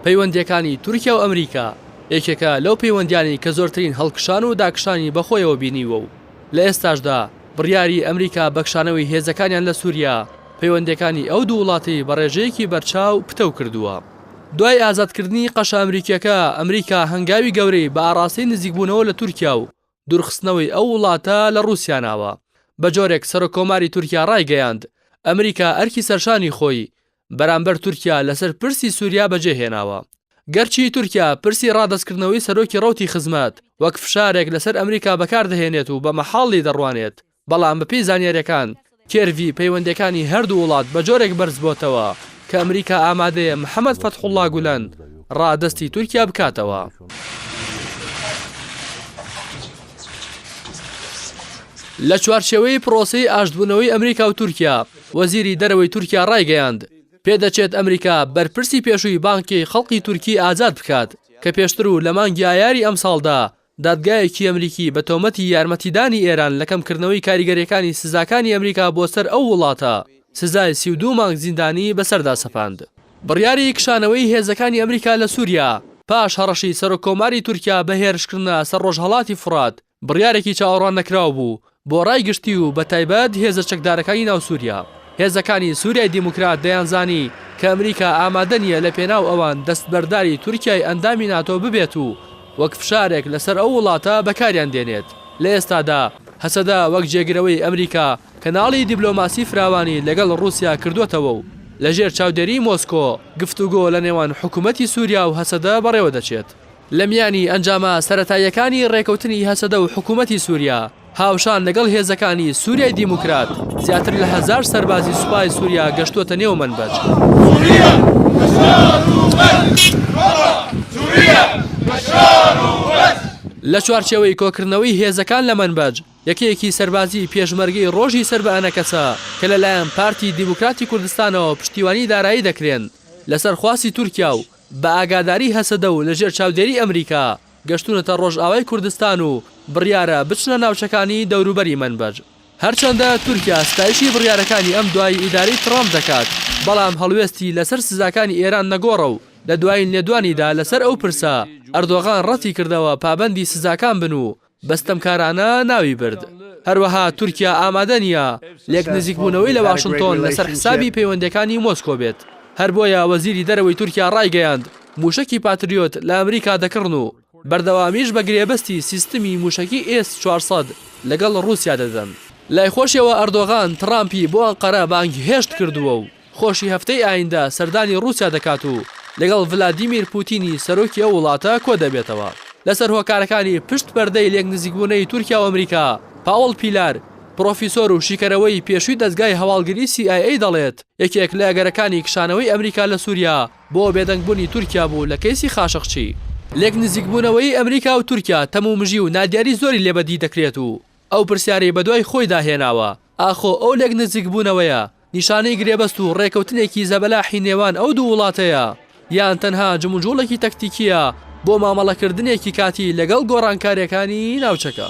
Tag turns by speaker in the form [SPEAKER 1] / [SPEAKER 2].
[SPEAKER 1] پەیوەندییەکانی تورکیا و ئەمریکا یەکێکە لەو پەیوەندییانەی کە زۆرترین هەڵکشان و داکشانی بەخۆیەوە بینیوە و لە ئێستاشدا بڕیاری ئەمریکا بە کشانەوەی هێزەکانیان لە سوریا پەیوەندییەکانی ئەو دوو وڵاتەی بە ڕێژەیەکی بەرچاو پتەو کردووە. دوای ئازادکردنی قەشە ئەمریکییەکە، ئەمریکا هەنگاوی گەورەی بە ئاڕاستەی نزیکبوونەوە لە تورکیا و دوورخستنەوەی ئەو وڵاتە لە ڕووسیا ناوە. بەجۆرێک سەرۆککۆماری تورکیا ڕایگەیاند، ئەمریکا ئەرکی سەرشانی خۆی بەرامبەر تورکیا لەسەر پرسی سووریا بەجێهێناوە. گەرچی تورکیا پرسی ڕادەستکردنەوەی سەرۆکی ڕەوتی خزمەت وەک فشارێک لەسەر ئەمریکا بەکاردەهێنێت و بە مەحاڵی دەڕوانێت، بەڵام بەپێی زانیارییەکان کێرڤی پەیوەندییەکانی هەردوو وڵات بە جۆرێک بەرزبۆتەوە کە ئەمریکا ئامادەیە محەمەد فەتحوڵڵا گولەن ڕادەستی تورکیا بکاتەوە. لە چوارچێوەی پرۆسەی ئاشتبوونەوەی ئەمریکا و تورکیا، وەزیری دەرەوەی تورکیا ڕایگەیاند، پێدەچێت ئەمریکا بەرپرسی پێشووی بانکی خەڵقی تورکی ئازاد بکات کە پێشتر و لە مانگی ئایاری ئەمساڵدا دادگایەکی ئەمریکی بە تۆمەتی یارمەتیدانی ئێران لە کەمکردنەوەی کاریگەرییەکانی سزاکانی ئەمریکا بۆ سەر ئەو وڵاتە، سزای سی و دوو مانگ زیندانیی بەسەردا سەپاند. بڕیاری کشانەوەی هێزەکانی ئەمریکا لە سووریا پاش هەڕەشەی سەرۆککۆماری تورکیا بە هێرشکردنە سەر ڕۆژهەڵاتی فورات، بڕیارێکی چاوەڕوان نەکراو بوو بۆ ڕای گشتی و بە تایبەت هێزە چەکدارەکانی ناو سووریا. هێزەکانی سووریای دیموکرات دەیانزانی کە ئەمریکا ئامادە نییە لە پێناو ئەوان دەستبەرداری تورکیای ئەندامی ناتۆ ببێت و وەک فشارێک لە سەر ئەو وڵاتە بەکاریان دێنێت. لە ئێستادا هەسەدە وەک جێگرەوەی ئەمریکا کەناڵی دیبلۆماسی فراوانی لەگەڵ ڕووسیا کردووەتەوە و لە ژێر چاودێری مۆسکۆ گفتوگۆ لە نێوان حکوومەتی سووریا و هەسەدە بەڕێوە دەچێت. لە میانی ئەنجامە سەرەتاییەکانی ڕێکەوتنی هەسەدە و حکوومەتی سووریا، هاوشان لەگەڵ هێزەکانی سووریای دیموکرات، زیاتر لە هەزار سەربازی سوپای سووریا گەشتووەتە نێو مەنبەج. لە چوارچێوەی کۆکردنەوەی هێزەکان لە مەنبەج، یەکەیەکی سەربازیی پێشمەرگەی ڕۆژی سەر بە ئەنەکەسە کە لەلایەن پارتی دیموکراتی کوردستانەوە پشتیوانی دارایی دەکرێن، لەسەر خواستی تورکیا و بە ئاگاداری هەسەدە و لەژێر چاودێری ئەمریکا گەشتوونەتە ڕۆژئاوای کوردستان و بڕیارە بچنە ناوچەکانی دەوروبەری مەنبەج. هەرچەندە تورکیا ستایشی بڕیارەکانی ئەم دوایەی ئیدارەی تڕامپ دەکات، بەڵام هەڵوێستی لەسەر سزاکانی ئێران نەگۆڕە و لە دوایین لێدوانیدا لەسەر ئەو پرسە، ئەردۆغان ڕەتیکردەوە پابەندی سزاکان بن و بە ستەمکارانە ناوی برد. هەروەها تورکیا ئامادە نییە لێک نزیکبوونەوەی لە واشنتۆن لەسەر حسابی پەیوەندییەکانی مۆسکۆ بێت. هەر بۆیە وەزیری دەرەوەی تورکیا ڕایگەیاند، مووشەکی پاتریۆت لە ئەمریکا دەکڕن و بەردەوامیش بە گرێبەستی سیستمی مووشەکی ئێس چوار سەد لەگەڵ ڕووسیا دەدەن. لای خۆشیەوە ئەردۆغان تڕامپی بۆ ئەنقەرە بانگهێشت کردووە و خۆشی هەفتەی ئایندە سەردانی ڕووسیا دەکات و لەگەڵ ڤلادیمیر پووتینی سەرۆکی ئەو وڵاتە کۆدەبێتەوە. لەسەر هۆکارەکانی پشت پەردەی لێکنزیکبوونەی تورکیا و ئەمریکا، پاوڵ پیلار، پرۆفیسۆر و شیکەرەوەی پێشووی دەزگای هەواڵگری سی ئای ئەی دەڵێت، یەکێک لە ئەگەرەکانی کشانەوەی ئەمریکا لە سووریا بۆ بێدەنگبوونی تورکیا بوو لە کەیسی خاشقچی. لێکنزیکبوونەوەی ئەمریکا و تورکیا تەم و مژی و نادیاری زۆری لێ بەدی دەکرێت و ئەو پرسیارەی بەدوای خۆیدا هێناوە، ئاخۆ ئەو لێکنزیکبوونەوەیە نیشانەی گرێبەست و ڕێکەوتنێکی زەبەلاحی نێوان ئەو دوو وڵاتەیە، یان تەنها جموجوڵێکی تەکتیکییە بۆ مامەڵەکردنێکی کاتی لەگەڵ گۆڕانکارییەکانی ناوچەکە؟